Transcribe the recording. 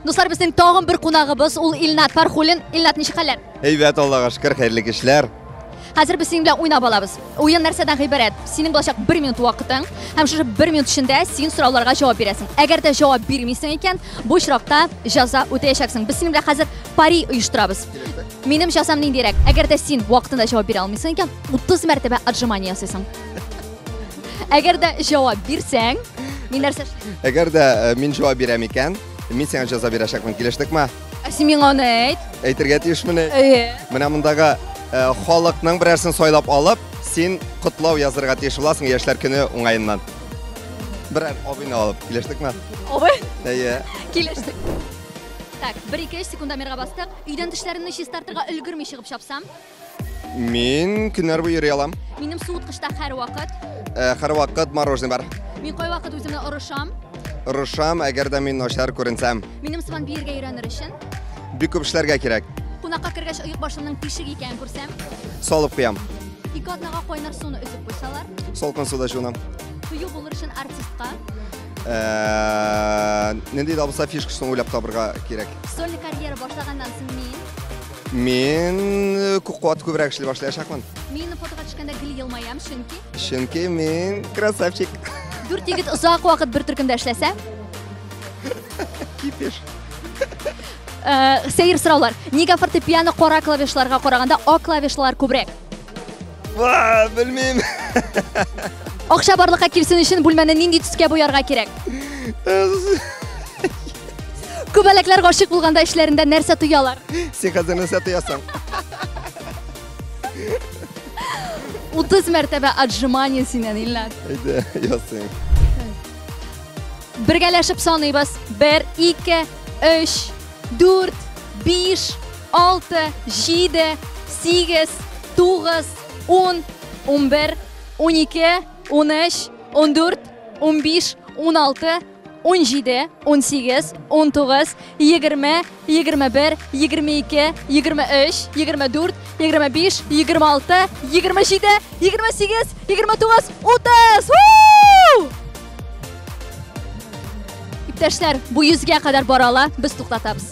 Дуслар, безнең тагын бер кунагыбыз ул Илнат Фархулин. Илнат, ничек хәлләр? Әйбәт, Аллага шөкер, хәерле кишләр. Хәзер без синең белән уйнап алабыз. Уен нәрсәдән гыйбарәт? Синең булачак 1 минут вакытың һәм шушы 1 минут эчендә син сорауларга җавап бирәсең. Әгәр дә җавап бирмисең икән, бу очракта җәза үтәячәксең. Без синең белән хәзер пари оештырабыз. Минем җәзам ниндирәк? Әгәр дә син вакытында җавап бирә алмыйсың икән, 30 мәртәбә отжимание ясыйсың. Әгәр дә җавап бирсәң, мин нәрсә эшлим? Әгәр дә э, мин җавап бирәм икән, мин сиңа җәза бирәчәкмен, килештекме? Ә син миңа аны әйт. Әйтергә тиешмени? Әйе. Менә мондагы э, халыкның берәрсен сайлап алып, син котлау язырга тиеш буласың яшьләр көне уңаеннан. Берәр абыйны алып, килештекме? Абы, Әйе. килештек. Так, 1-2-3 секундомерга бастык. Өйдән тешләремне чистартырга өлгерми чыгып чапсам, Мин көннәр буе йөри алам. Минем суыткычта һәрвакыт. Э, һәрвакыт мороженое бар. Мин кайвакыт үземне орышам. Орышам, әгәр дә мин начар күренсәм. Минем сыман биергә өйрәнер өчен. Бик күп эшләргә кирәк. Кунакка кергәч оек башымның тишек икәнен күрсәм. Салып куям. Ике атнага кайнар суны өзеп куйсалар. Салкын суда җуынам. Кыю булыр өчен артистка. Э, нинди дә булса фишкасын уйлап табырга кирәк. Сольный карьера башлаганнан соң мин Мин күп куат күбрәк эшли башлаячакмын. Мин фотога төшкәндә гел елмаям, чөнки Чөнки мин красавчик. Дүрт егет озак вакыт бер төркемдә эшләсә. Кипеш. Э, сәер сораулар. Нигә фортепиано кара клавишларга караганда ак клавишлар күбрәк? Ва, белмим. Акча барлыкка килсен өчен бүлмәне нинди төскә буярга кирәк? Күбәләкләр гашык булганда эшләрендә нәрсә тоялар? Син хәзер нәрсә тоясың? 30 мәртәбә отжимание синнән, Илназ. Әйдә, ясыйм. Бергәләшеп саныйбыз. 1 2 3 Дүрт, биш, алты, җиде, сигез, тугыз, ун, унбер, унике, унөч, ундүрт, унбиш, уналты, унҗиде, унсигез, унтугыз, егерме, егерме бер, егерме ике, егерме өч, егерме дүрт, егерме биш, егерме алты, егерме җиде, егерме сигез, егерме тугыз, утыз! Иптәшләр, бу йөзгә кадәр бара ала, без туктатабыз.